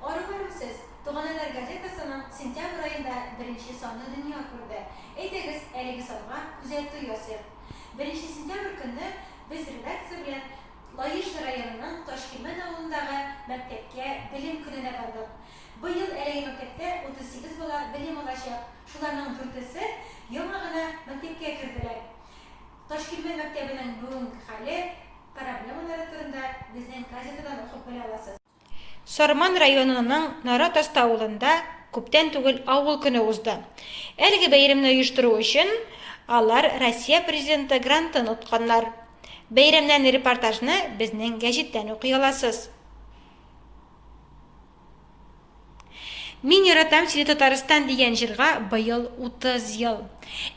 Арулар Үсез, Туганайлар газетасының сентябрь аенда беренче саны дөнья күрде. Әйдәгез, әлеге санга күзәтү ясыйк. Беренче сентябрь көнне без редакция белән Лаеш районының Ташкилмән авылындагы мәктәпкә Белем көненә бардык. Быел әлеге мәктәптә 38 бала белем алачак, шуларның дүртесе яңа гына мәктәпкә керделәр. Ташкилмән мәктәбенең бүгенге хәле. Проблемалары турында безнең газетадан укып белә аласыз. Сарман районының Нара Таста авылында күптән түгел авыл көне узды. Әлеге бәйрәмне оештыру өчен алар Россия Президенты грантын отканнар. Бәйрәмнән репортажны безнең гәҗиттән укый аласыз. Мин яратам сине Татарстан дигән җырга быел 30 ел.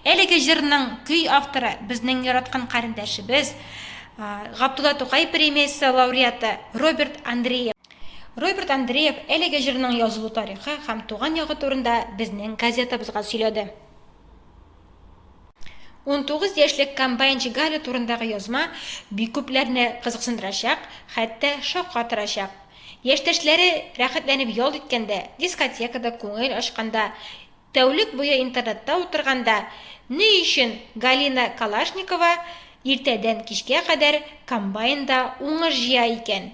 Әлеге җырның көй авторы безнең яраткан карендәшебез, Габдулла Тукай премиясе лауреаты Роберт Андреев. Роберт Андреев әлеге җырның язылу тарихы һәм туган ягы турында безнең газетабызга сөйләде. Унтугыз яшьлек комбайнчы Галя турындагы язма бик күпләрне кызыксындырачак, хәтта шаккатырачак. Яшьтәшләре рәхәтләнеп ял иткәндә, дискотекада күңел ачканда, тәүлек буе интернетта утырганда ни өчен Галина Калашникова иртәдән кичкә кадәр комбайнда уңыш җыя икән?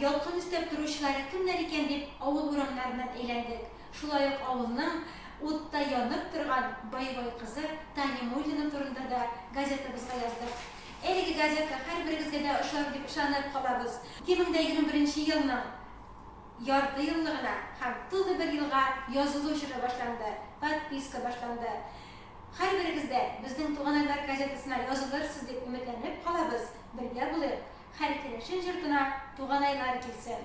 Ялкын өстәп торучылары кемнәр икән дип, авыл урамнарыннан әйләндек. Шулай ук авылның утта янып торган боевой кызы Таня Муллина турында да газетабызга яздык. Әлеге газета һәрберегезгә дә ошар дип ышанып калабыз. 2021 елның яртыеллыгына һәм тулы бер елга язылу чоры башланды, подписка башланды. Һәрберегез дә Безнең туганайлар газетасына язылырсыз дип өметләнеп калабыз. Бергә булыйк, хәл керәшен җортына Туганайлар килсен!